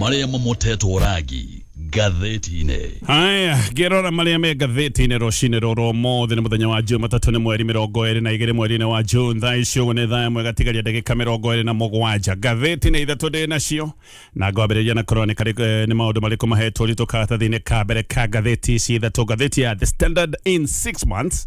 marĩa mamotetwo rangi ngathĩti-inĩ haya ngĩrora marĩa me ngathĩti-inĩ rũcinĩ rũrũ ũmũthĩ nĩ mũthenya wa juma tatũ nĩ mweri mĩrongo ĩrĩ na igĩrĩ mweri-inĩ wa june thaa ici ũguo nĩ thaa ĩmwe gatigaria ndagĩka mĩrongo ĩrĩ na mũgwanja ngathĩti nĩ ithatũ ndĩ nacio na ngwambĩrĩria na kũrora nĩ karĩ- eh, nĩ maũndũ marĩkũ mahetwo ritũ karatathi-inĩ ka mbere ka ngathĩti ici ithatũ ngathĩti ya the standard in six months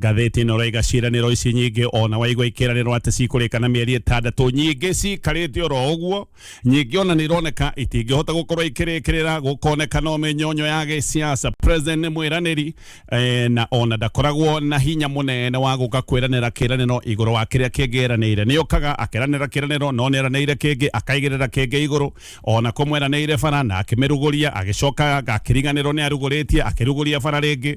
Ngathĩti ĩno ũraiga ciĩranĩro ici nyingĩ ona waigua ikĩranĩrwo atĩ cikũrĩka na mĩeri ĩtandatũ nyingĩ cikarĩte oro ũguo nyingĩ ona nĩ ironeka itingĩhota gũkorwo ikĩrĩkĩrĩra gũkoneka no mĩnyonyo ya gĩsiasa president nĩ mwĩranĩri eh, na ona ndakoragwo na hinya mũnene wa gũka kwĩranĩra kĩranĩro igũrũ wa kĩrĩa kĩngĩ eranĩire nĩ okaga akeranĩra kĩranĩro no nĩ eranĩire kĩngĩ akaigĩrĩra kĩngĩ igũrũ ona kũmweranĩire bara na akĩmĩrugũria agĩcoka akĩriganĩrwo nĩ arugũrĩtie akĩrugũria bara rĩngĩ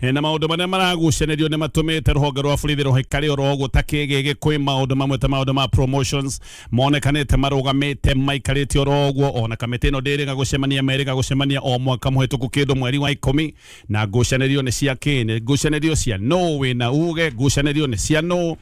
E, na maundu maria maragucanirio ni matumite ruhonge rwa borithi ruhikari oro gutakii gigi kwi maundu mamwe ta maundu ma promotions monekanite marugamite maikarite oro guo ona kamiti ino ndiriga gucemania meriga gucemania o mwaka muhituku kindu mweri wa ikumi na ngucanirio ni cia kini ngucanirio cia no wina uge ngucanirio ni cia no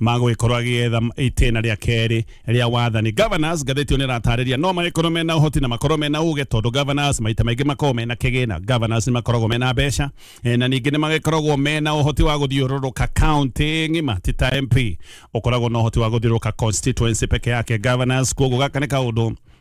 magũgĩkorwo agĩetha itĩna rĩa kerĩ rĩa wathani governors ngathĩti ĩyo nĩ ĩratarĩria no magĩkorwo mena ũhoti na makorwo mena ũgĩ tondũ governors maita maingĩ makoragwo mena kĩgĩna governors nĩ makoragwo mena mbeca eh, na ningĩ nĩ magĩkoragwo mena ũhoti wa gũthiũrũrũka county ng'ima ti ta mp ũkoragwo na ũhoti wa gũthiũrũrũka constituency peke yake governors koguo gaka nĩ kaũndũ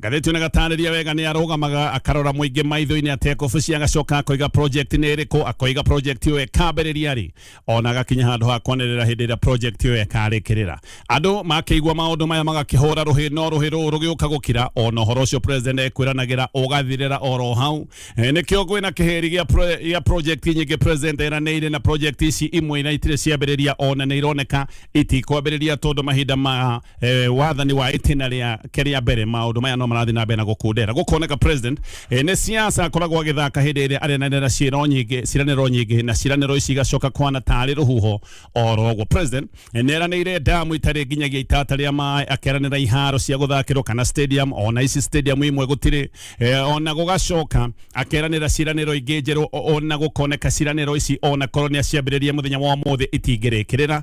Gathĩti nĩ gatarĩria wega nĩ arũgamaga akarora mũingĩ maitho-inĩ atekũbuci agacoka akoiga project nĩ ĩrĩkũ akoiga project ĩyo ĩkambĩrĩria rĩ ona agakinya handũ ha kwanĩrĩra hĩndĩ ĩrĩa project ĩyo ĩkarĩkĩrĩra andũ makĩigua maũndũ maya magakĩhũra rũhĩ no rũhĩ rũũ rũgĩũka gũkira ona ũhoro ũcio president ekwĩranagĩra ũgathirĩra oro hau Eh, nĩkĩo gwĩ na kĩheri gĩa pro- gĩa project nyingĩ president eranĩire na project ici imwe na itirĩ ciambĩrĩria ona nĩ ironeka itikwambĩrĩria tondũ mahinda ma eh, wathani wa itina ria keria mbere maundu maya no marathi na mbere na gukundera gukoneka president eh, ni siasa akoragwo agithaka hindi iria arenanira ciiro nyingi ciraniro nyingi na ciraniro ici igacoka kwana tari ruhuho orogwo president eh, neranire damu itari nginyagia itata ria maĩ akeranira iharo cia guthakirwo kana stadium ona ici stadium imwe gutiri eh, ona gugacoka akeranira ciraniro ingi njeru o- ona gukoneka ciraniro ici ona korwo ni aciambiririe muthenya wa muthi itingirikirira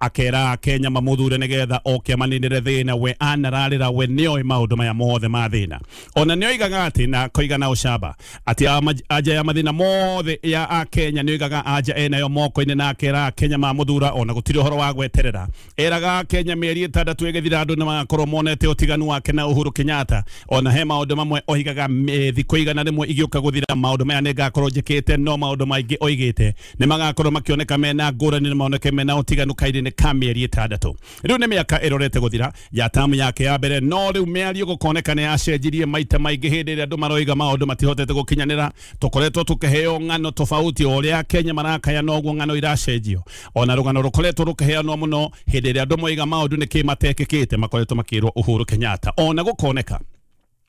akera akenya mamũthure nĩgetha oke amaninĩre thĩna we anararĩra we nĩoĩ maũndũ maya mothe ma thĩna ona nĩoigaga atĩ na koiga na ũcamba atĩ ama- anja ya mathĩna mothe ya akenya nĩoigaga anja enayo moko-inĩ na akera akenya mamũthura ona gũtirĩ ũhoro wa gweterera eraga akenya mĩeri ĩtandatũ ĩgĩthira andũ nĩmagakorwo monete ũtiganu wake na uhuru kenyatta ona he maũndũ mamwe oigaga "Me- thikũ igana rĩmwe igĩũka gũthira maũndũ maya nĩngakorwo njĩkĩte no maũndũ maingĩ oigĩte nä magakorwo makĩoneka mena ngũrani na maoneke mena ũtiganu kairĩnĩ ka mĩeri ĩtandatũ rĩu nĩ mĩaka ĩrorete gũthira ya tamu yake ya mbere no rĩu mĩario gũkoneka nĩ yacenjirie maita maingĩ hĩndĩ ĩrĩa andũ maroiga maũndũ matihotete gũkinyanĩra tũkoretwo tũkĩheo ng'ano tofauti o ũrĩa akenya marakaya noguo ng'ano iracenjio ona rũgano rũkoretwo rũkĩheanwo mũno hĩndĩ ĩrĩa andũ moiga maũndũ nĩ kĩ matekĩkĩte makoretwo makĩrwo uhuru kenyatta ona gũkoneka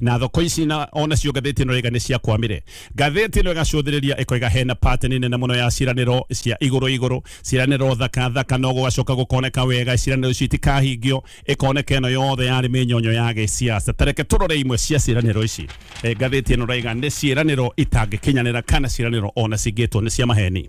na thoko ici na ona cio ngathĩti ĩno ĩga nĩ cia kwamire ngathĩti ĩno ĩgacũthĩrĩria ĩkoiga hena pateni nene mũno ya ciranĩro cia igũrũ igũrũ ciranĩro thaka thaka no gũgacoka gũkoneka wega ciranĩro ici itikahingio ĩkoneka ĩno yothe yarĩ mĩnyonyo ya gĩciaca tareke tũrore imwe cia ciranĩro ici Eh, ngathĩti ĩno raiga nĩ ciranĩro itangĩkinyanĩra kana ciranĩro ona cingĩtwo nĩ cia maheni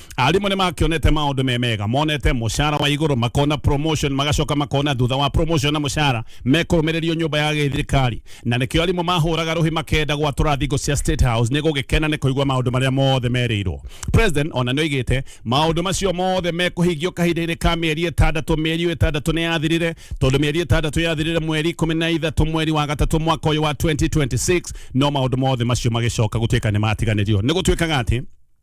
arimũ nĩ makĩonete maũndũ me mega monete mũcara wa igũrũ makona promotion magacoka makona thutha wa promotion na mũcara mekũrũmĩrĩrio nyũmba ya gĩthirikari na nĩkĩo arimũ mahũraga rũhi makenda gwatũra thingo cia state house nĩ gũgĩkena nĩ kũigua maũndũ marĩa mothe merĩirwo president ona nĩ oigĩte maũndũ macio mothe mekũhingio kahinda-inĩ ka mĩeri ĩtandatũ mĩeri ĩyo ĩtandatũ nĩ yathirire tondũ mĩeri ĩtandatũ yathirire mweri ikũmi na ithatũ mweri wa gatatũ mwaka ũyũ wa 2026 no maũndũ mothe macio magĩcoka gũtuĩka nĩ matiganĩrio nĩ gũtuĩkaga atĩ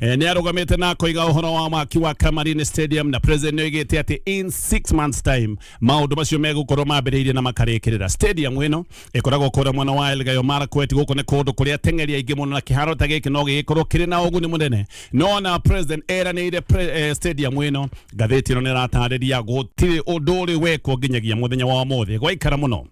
Eh, nä arå na koiga uhoro wa mwaki wa Kamarin Stadium na president nä oigä ati in 6 months time maundu macio megũkorwo mambĩrĩirie na makarĩkĩrĩra stadium ĩno ĩkoragwo kũrĩa mwena wa Elgeyo Marakwet gũkũ nĩ kũndũ kũrĩa ateng'eri aingĩ mũno na kĩharo ta gĩkĩ no gĩgĩkorwo kĩrĩ na ũguni mũnene no na president eranĩire pre, eh, stadium ĩno ngathĩti ĩno nĩ ĩratarĩria gũtirĩ ũndũ ũrĩ wekwo nginyagia mũthenya wa ũmũthĩ gwaikara mũno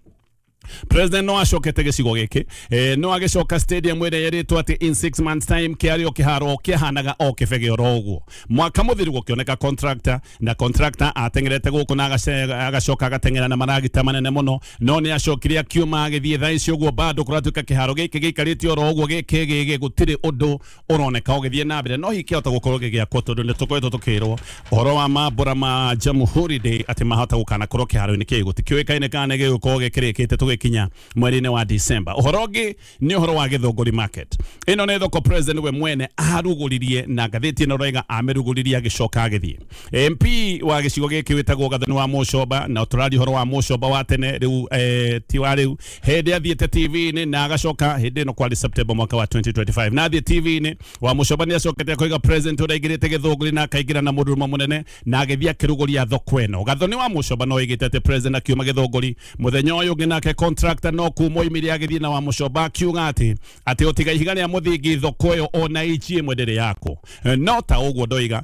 president no acokete gicigo giki eh, no agicoka stadium ire yeritwo ati in six months time kiari o kiharo kihanaga o kibege oro uguo mwaka muthiru gukioneka contractor na contractor atengerete guku na agace- agacoka agatengera na maragita manene muno no ni acokire akiuma agithie thaa ici uguo bado kuratuika kiharo giki gikarite oro uguo giki gigi gutiri undu uroneka ugithie na mbere no hikihota gukorwo gigiakwo tondu ni tukoretwo tukirwo uhoro wa mambura ma Jamhuri Day ati mahota gukana korwo kiharo-ini kiu gutikiuikaine kana gigukorwo gikirikite tugikinya mweri-ini wa December uhoro ungi ni uhoro wa githunguri market ino ni thoko president we mwene aruguririe na ngathiti ino roiga amiruguririe agicoka agithie MP wa gicigo giki witagwo gathoni wa Mucoba na turari uhoro wa Mucoba wa tene riu eh, ti wa riu hĩndĩ athiĩte TV-inĩ na agacoka hĩndĩ ĩno kwarĩ September mwaka wa 2025 na athiĩ TV-inĩ wa mũcoba nĩ acokete akaiga president ũrĩa aingĩrĩte gĩthũngũri na akaingĩra na mũndũrũme mũnene na agĩthiĩ akĩrugũria thoko ĩno gatho nĩ wa mũcoba no oigĩte atĩ president akiuma gĩthũngũri mũthenya ũyũ ũngĩ nake contractor no kuma oimire agĩthiĩ na wa mũcoba akiuga atĩ atĩ ũtiga ihiga rĩa mũthingi thoko ĩyo ona ici ĩmwe ndĩrĩ yako no ta ũguo ndoiga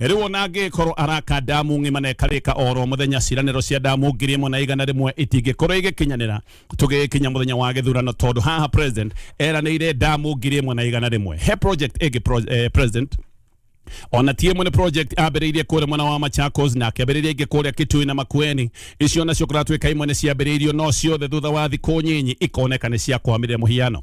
Rĩu ona angĩgĩkorwo araka ndamu ng'ima na ĩkarĩka o ro mũthenya, ciĩranĩro cia ndamu ngiri ĩmwe na igana rĩmwe itingĩkorwo igĩkinyanĩra tũgĩgĩkinya mũthenya wa gĩthurano, tondũ haha president eranĩire ndamu ngiri ĩmwe na igana rĩmwe. He project ĩngĩ pro, eh, president ona ti ĩmwe nĩ project ambĩrĩirie kũrĩa mwena wa Machakos na akĩambĩrĩria ingĩ kũrĩa Kitui na Makueni. Icio nacio kũratuĩka imwe nĩ ciambĩrĩirio, no ciothe thutha wa thikũ nyinyi ikoneka nĩ ciakwamire. Mũhiano,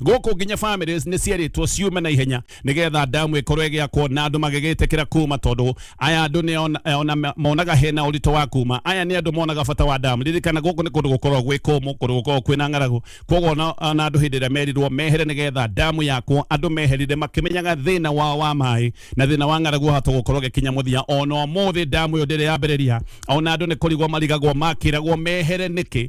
gũkũ nginya families nĩ cierĩtwo ciume na ihenya nĩgetha damu ĩkorwo ĩgĩakwo na andũ magĩgĩtĩkĩra kuma tondũ aya andũ nĩ ona- eh, ona monaga hena ũritũ wa kuma aya nĩ andũ monaga bata wa damu ririkana gũkũ nĩ kũndũ gũkorwo gwĩ kũmũ kũndũ gũkorwo kwĩna ng'aragu koguo ona ona andũ hĩndĩ ĩrĩa merirwo mehere nĩgetha damu yakwo andũ meherire makĩmenyaga thĩna wao wa maĩ na thĩna wa ng'aragu wahota gũkorwo gĩkinya mũthia ona ũmũthĩ damu ĩyo ndĩrĩ yambĩrĩria ona andũ nĩ kũrigwo marigagwo makĩragwo mehere nĩkĩ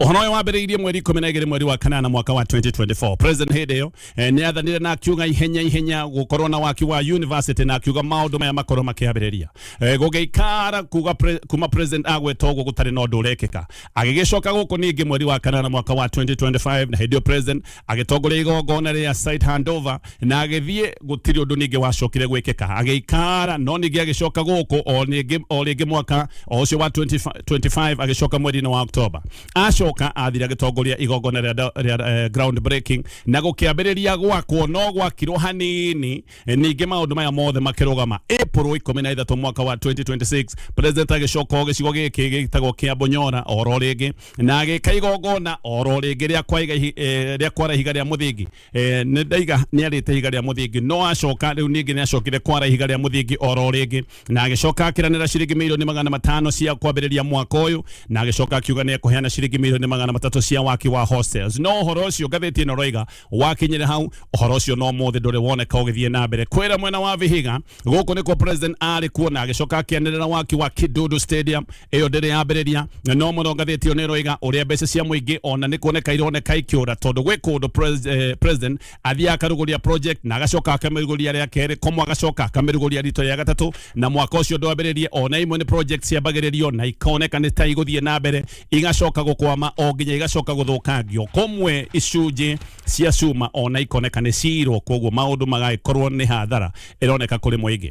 Ũhoro ũyũ wambĩrĩirie mweri ikũmi na igĩrĩ mweri wa kanana mwaka wa 2024 president hĩndĩ ĩyo eh, nĩ athanire na akiuga ihenya ihenya gũkorwo na waki wa university na akiuga maũndũ maya makorwo makĩambĩrĩria Eh, gũgĩikara kuga pre- kuma president agweta ũguo gũtarĩ na ũndũ ũrekĩka agĩgĩcoka gũkũ ningĩ mweri wa kanana mwaka wa 2025 na hĩndĩ ĩyo president agĩtongoria igongona rĩa site handover na agĩthiĩ gũtirĩ ũndũ ningĩ wacokire gwĩkĩka agĩikara no ningĩ agĩcoka gũkũ o ningĩ- o rĩngĩ mwaka o ũcio wa 25 25 agĩcoka mweri-inĩ wa october acoka athire agĩtongoria igongona rĩa da- rĩa eh, ground breaking na gũkĩambĩrĩria gwakwo no gwakirwo hanini Eh, ningĩ maũndũ maya mothe makĩrũgama april 13 mwaka wa 2026 president agĩcoka o gĩcigo gĩkĩ gĩtagwo kĩa bonyora oro rĩngĩ na agĩka igongona oro rĩngĩ rĩa kwa iga ihi- eh, rĩa kwara ihiga rĩa mũthingi Eh, nĩ ndaiga nĩ arĩte ihiga rĩa mũthingi no acoka rĩu ningĩ nĩ acokire kwara ihiga rĩa mũthingi oro rĩngĩ na agĩcoka akĩranĩra ciringi milioni magana matano cia kwambĩrĩria mwaka ũyũ na agĩcoka akiuga nĩ ekũheana ciringi milioni magana matatũ cia waki wa hostels no ũhoro ũcio ngathĩti ĩno roiga wakinyire hau ũhoro ũcio no mũthĩ ndũrĩ woneka ũgĩthiĩ na mbere kwĩra mwena wa vihiga gũkũ nĩkuo president arĩ kuo na agĩcoka akĩanĩrĩra waki wa kidudu stadium ĩyo ndĩrĩ yambĩrĩria no mũno ngathĩti ĩyo nĩ ĩroiga ũrĩa mbeca cia mũingĩ ona nĩ kuoneka ironeka ikĩũra tondũ gwĩ kũndũ pres- eh, president athiaga akarugũria project na agacoka akamĩrugũria rĩa kerĩ komo agacoka akamĩrugũria rito rĩa gatatũ na mwaka ũcio ndwambĩrĩrie ona imwe nĩ project ciambagĩrĩrio na ikoneka nĩ ta igũthiĩ na mbere igacoka gũkwama o nginya igacoka gũthũkangio komwe icunjĩ cia cuma ona ikoneka nĩ cirwo koguo maũndũ magagĩkorwo nĩ hathara ĩroneka kũrĩ mũingĩ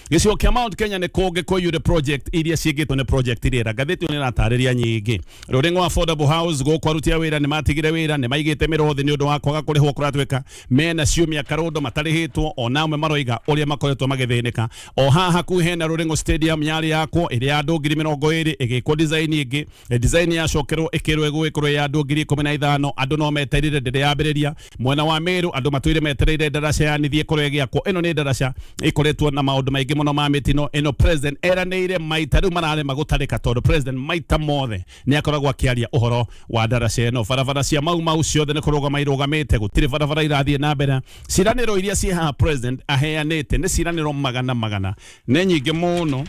gĩcigo kĩa mount kenya nĩ kũngĩ kũiyũre project iria ciĩkĩtwo nĩ project rĩera ngathĩti ĩyo nĩ ĩratarĩria nyingĩ rũrĩng'o wa affordable house gũkũ aruti a wĩra nĩ matigire wĩra nĩ maigĩte mĩroho thĩ nĩ ũndũ wa kwaga kũrĩhwo kũratwĩka mena ciumia karũndo matarĩhĩtwo ona amwe maroiga ũrĩa makoretwo magĩthĩnĩka o haha hakuhĩ hena rũrĩng'o stadium yarĩ yakwo ĩrĩa ya andũ ngiri mĩrongo ĩrĩ ĩgĩkwo design ĩngĩ design yacokerwo ĩkĩrwo ĩgũgĩkorwo ya andũ ngiri ikũmi na ithano andũ no meterire ndĩrĩ yambĩrĩria mwena wa Meru andå matwire metereire ndaraca yanithie kore giakwo ino ni ndaraca ikoretwo na maundu maingi muno ma mitino ino president eranire maita riu mararema gutarika tondu president maita mothe ni akoragwo akiaria uhoro wa ndaraca ino barabara cia mau mau ciothe ni kurugama irugamite gutire barabara irathie na mbere ciraniro iria ci haha president aheanite ni ciraniro magana magana nĩ nyingĩ mũno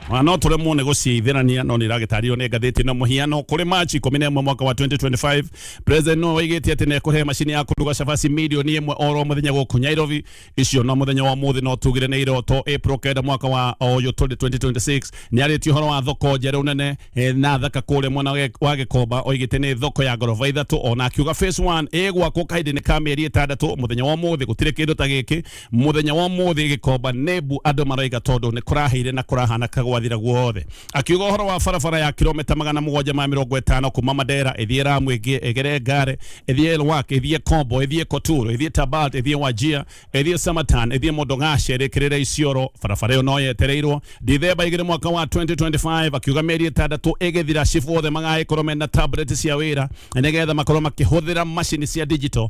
Ona no tũremwo nĩ gũciithĩrania no nĩ iragĩtarĩrio nĩ ngathĩti na mũhiano kũrĩ Machi ikũmi na ĩmwe mwaka wa 2025 president no oigĩte atĩ nĩ ekũhe macini ya kũruga cabaci milioni ĩmwe oro mũthenya gũkũ Nairobi icio no mũthenya wa ũmũthĩ no tugire nĩ iroto April kenda mwaka wa ũyũ tũrĩ 2026 nĩ arĩtie ũhoro wa thoko njerũ nene eh, na thaka kũrĩa mwena wa Gĩ- wa gĩkomba oigĩte nĩ thoko ya ngoroba ithatũ ona akiuga phase 1 ĩgwakwo kahinda-inĩ ka mĩeri ĩtandatũ mũthenya wa ũmũthĩ gũtirĩ kĩndũ ta gĩkĩ muthenya wa muthi gikomba nebu andu maraiga tondu ni kuraheire na kurahana kagwathira guothe akiuga uhoro wa barabara ya kilomita magana mugwanja ma mirongo itano kuma madera ithie ramu igere ngare ithie elwak ithie kombo ithie koturo ithie tabat ithie wajia ithie samatan ithie mondongashe rikirire isioro barabara iyo no yetereirwo ndithemba igiri mwaka wa 2025 akiuga meri itandatu igithira cibu othe magaikorwo mena tablet cia wira nigetha makorwo makihuthira macini cia digital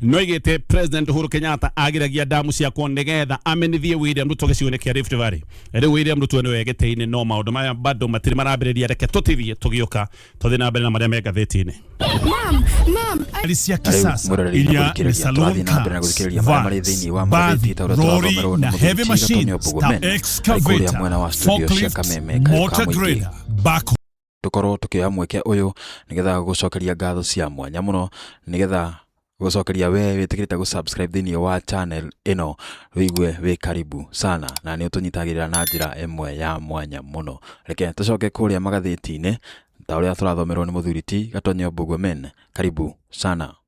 no igite president uhuru kenyatta agiragia ndamu ciakwo nigetha amenithie william ruto gicigo-inĩ kia rift valley riu william ruto niwe gĩtĩ-inĩ no maũndũ maya bado matirĩ marambĩrĩria reke tũtithie tũgĩũka tũthiĩ na mbere na marĩa me ngathĩti-inĩ Mom, mom, I Gari cia kisasa iria ni salon cars, vans, bathi, lori na heavy machines ta excavator, forklifts, motor grader, backhoe tũkorwo tũkĩoya mweke ũyũ nĩgetha gũcokeria ngatho cia mwanya mũno nĩgetha gũcokeria we wĩtĩkĩrĩte gũ subscribe thĩinĩ wa channel ĩno wĩigue wĩ karibu sana na nĩ ũtũnyitagĩrĩra na njĩra ĩmwe ya mwanya mũno reke tũcoke kũrĩa magathĩti-inĩ ta ũrĩa tũrathomerwo nĩ mũthuri ti gatonyo bogomen karibu sana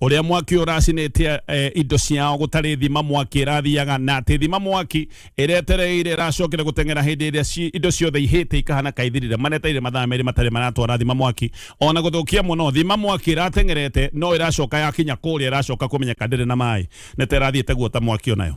uria mwaki uracinite eh, indo ciao gutari thima mwaki irathiaga na ati thima mwaki iretereire iracokire guteng'era hindi iria ci- indo ciothe ihite ikahana kaithirire maneteire mathaa meri matari maratwara thima mwaki ona guthukia muno thima mwaki irateng'erete no iracoka yakinya kuria iracoka kumenyeka ndiri na mai nite irathiite guota mwaki onayo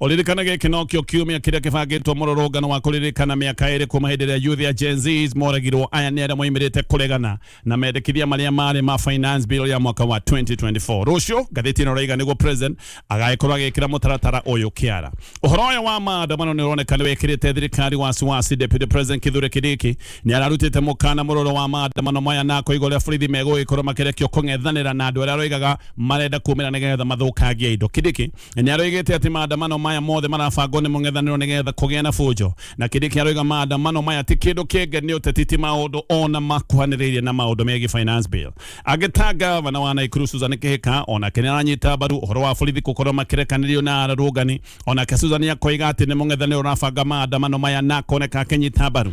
Ũririkana gĩkĩ nokĩo kiumia kĩrĩa kĩbangĩtwo mũrũrũngano wa kũririkana mĩaka ĩrĩ kuma hĩndĩ ĩrĩa youth ya Gen Zs moragirwo. Aya nĩ arĩa moimĩrĩte kũregana na mendekithia marĩa marĩ ma finance bill ya mwaka wa 2024. Rũciũ ngathĩti ĩno raiga nĩguo president agagĩkorwo agĩkĩra mũtaratara ũyũ kĩara. Ũhoro ũyũ wa maandamano nĩ ũroneka nĩ wĩkĩrĩte thirikari wasiwasi. Deputy President Kithure Kindiki nĩ ararutĩte mũkana mũrũrũ wa maandamano maya na akoiga ũrĩa borithi megũgĩkorwo makĩrekio kũng'ethanĩra na andũ arĩa aroigaga marenda kumĩra nĩgetha mathũkangie indo. Kindiki nĩ aroigĩte atĩ maandamano maya mothe marabangwo nĩ mũng'ethanĩro nĩgetha kũgĩa na bunjo na kĩndĩ kĩaroiga maandamano maya ti kĩndũ kĩngĩ nĩ ũteti ti maũndũ ona makuhanĩrĩirie na maũndũ megiĩ finance bill agĩta gavana wa Naikuru Susan Kĩhĩka onake nĩ aranyita mbaru ũhoro wa borithi gũkorwo makĩrekanĩrio na arũrũngani onake Susan akoiga atĩ nĩ mũng'ethanĩro ũrabanga maandamano maya na akoneka akĩnyita mbaru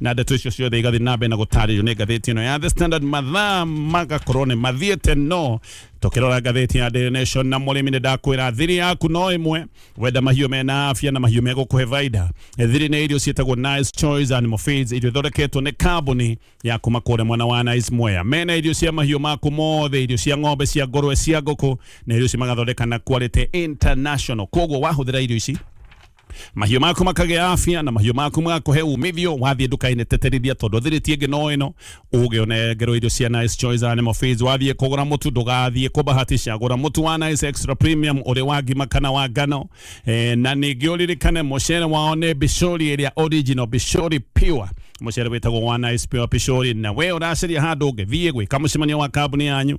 na ndeto icio ciothe igathiĩ na mbere na gũtarĩrio nĩ ngathĩti ĩno ya The Standard mathaa magakorwo nĩ mathiĩte no tũkĩrora ngathĩti ya Daily Nation na mũrĩmi nĩ ndakwĩra thiri yaku no ĩmwe wenda mahiũ mena afya na mahiũ megũkũhe baida thiri nĩ irio ciĩtagwo Nice Choice Animal Feeds irio ithondeketwo nĩ kambuni ya kuma kũrĩa mwena wa Nice Mwea mena irio cia mahiũ maku mothe irio cia ng'ombe cia ngũrwe cia ngũkũ na irio ici magathondeka na quality international koguo wahũthĩra irio ici mahiũ maku makagĩa afya na mahiũ maku magakũhe umithio wathiĩ nduka-inĩ teterithia tondũ thirĩti ĩngĩ no ĩno ũgĩ ũnengerwo irio cia nice choice animal feeds wathiĩ kũgũra mũtu ndũgathiĩ kũbahatisha gũra mũtu wa nice extra premium ũrĩ wa ngima kana wa ngano e, na ningĩ ũririkane mũcere wao nĩ bishori ĩrĩa original bishori pure mũcere wĩtagwo wa nice pure bishori na we ũracaria handũ ũngĩthiĩ gwĩka mũcemanio wa kambuni yanyu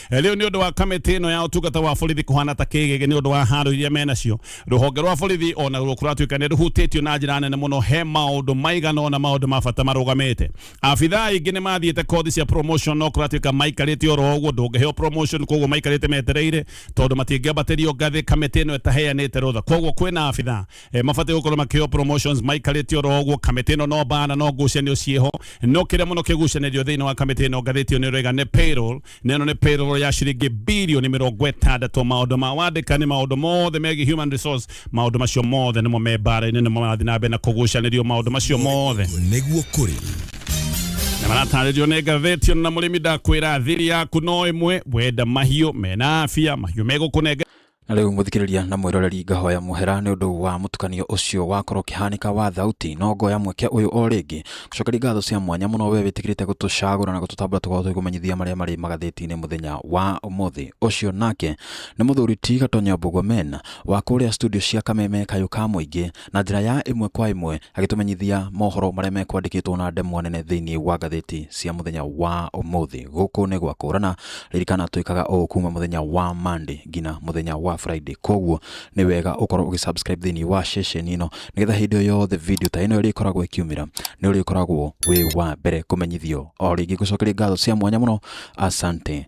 Eh, riu ni undu wa kamiti ino ya utungata wa borithi kuhana ta kigege ni undu wa haro iria menacio ruhonge rwa borithi ona ruo kuratuika ni ruhutitio na njira nene muno he maundu maigana ona maundu ma bata marugamite abitha aingi ni mathiite kothi cia promotion no kuratuika maikarite oro uguo ndungiheo promotion koguo maikarite metereire tondu matingĩambatirio ngathĩ kamiti ino ĩtaheanĩte rũtha koguo kwĩna abitha eh, mabatiĩ gũkorwo makĩo promotions maikarĩtio oro ũguo kamĩtĩ ĩno no bana no ngucanio ciĩho no kĩrĩa mũno kĩgucanĩrio thĩinĩ wa kamĩtĩ ĩno ngathĩti ĩyo nĩ ũrega nĩ payroll na ĩno nĩ payroll ya ciringi bilioni mĩrongo ĩtandatũ maũndũ ma wandĩkani maũndũ mothe megiĩ human resource maũndũ macio mothe nĩmo me mbara-inĩ nĩmo marathiĩ na mbere na kũgucanĩrio maũndũ macio mothe nĩguo kũrĩ na maratarĩrio nĩ ngathĩti ĩno na mũrĩmi ndakwĩra thiri yaku no ĩmwe wenda mahiũ mena afia mahiũ megũkũnenge Na rĩu mũthikĩrĩria na mwĩroreri ngahoya mũhera nĩ ũndũ wa mũtukanio ũcio wakorwo ũkĩhanĩka wa thauti no ngoya mweke ũyũ o rĩngĩ gũcokeria ngatho cia mwanya mũno we wĩtĩkĩrĩte gũtũcagũra na gũtũtambũra tũkorwo tũgĩkũmenyithia marĩa marĩ magathĩti-inĩ mũthenya wa ũmũthĩ ũcio nake nĩ mũthuri ti gatonyo mbugo men wa kũrĩa studio cia kameme kayũ ka mũingĩ na njĩra ya ĩmwe kwa ĩmwe agĩtũmenyithia mohoro marĩa mekwandĩkĩtwo na ndemwa nene thĩinĩ wa ngathĩti cia mũthenya wa ũmũthĩ gũkũ nĩ gwa kũrana ririkana twĩkaga ũũ kuma mũthenya wa Monday nginya mũthenya wa Friday koguo nĩ wega ũkorwo ũgĩsubscribe thĩinĩ wa ceceni ĩno nĩgetha hĩndĩ o yothe video ta ĩno ĩrĩkoragwo ĩkiumĩra nĩ ũrĩkoragwo wĩ wa mbere kũmenyithio o rĩngĩ gũcokeria ngatho cia mwanya mũno asante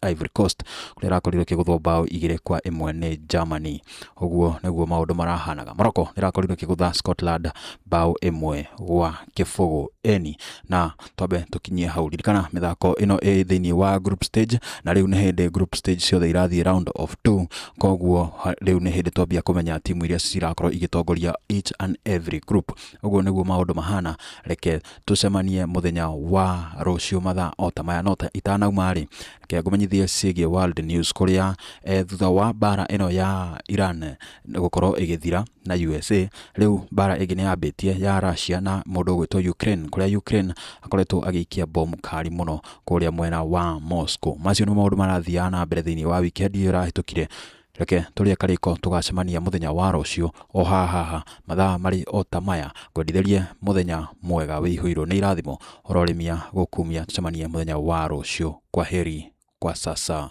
Ivory Coast kũrĩa ĩrakorirwo ĩkĩgũthwo mbaũ igĩrĩ kwa ĩmwe nĩ Germany. Ũguo nĩguo maũndũ marahanaga. Morocco nĩrakorirwo ĩkĩgũtha Scotland mbaũ ĩmwe gwa kĩbũgũ eni na twambe tũkinyie hau. Ririkana mĩthako ĩno ĩ thĩinĩ wa group stage na rĩu nĩ hĩndĩ group stage ciothe irathiĩ round of two, koguo ha- rĩu nĩ hĩndĩ twambia kũmenya timu iria cirakorwo igĩtongoria each and every group. Ũguo nĩguo maũndũ mahana, reke tũcemanie mũthenya wa rũciũ mathaa o ta maya no ta itanauma-rĩ reke ngũmenyithie ciĩgiĩ world news kũrĩa eh, thutha wa mbara ĩno ya Iran gũkorwo ĩgĩthira na USA rĩu mbara ĩngĩ nĩ yambĩtie ya Russia na mũndũ ũgwĩtwo Ukraine kũrĩa Ukraine akoretwo agĩikia bomu kari mũno kũrĩa mwena wa Moscow macio nĩ maũndũ marathiaga na mbere thĩinĩ wa wikendi ĩyo ĩrahĩtũkire Reke tũrĩe karĩko tũgacemania mũthenya wa rũciũ o haha haha mathaa marĩ o ta maya ngwendithĩrie mũthenya mwega wĩihũirwo nĩ irathimo ũrorĩmia gũkumia tũcemanie mũthenya wa rũciũ kwa heri kwa sasa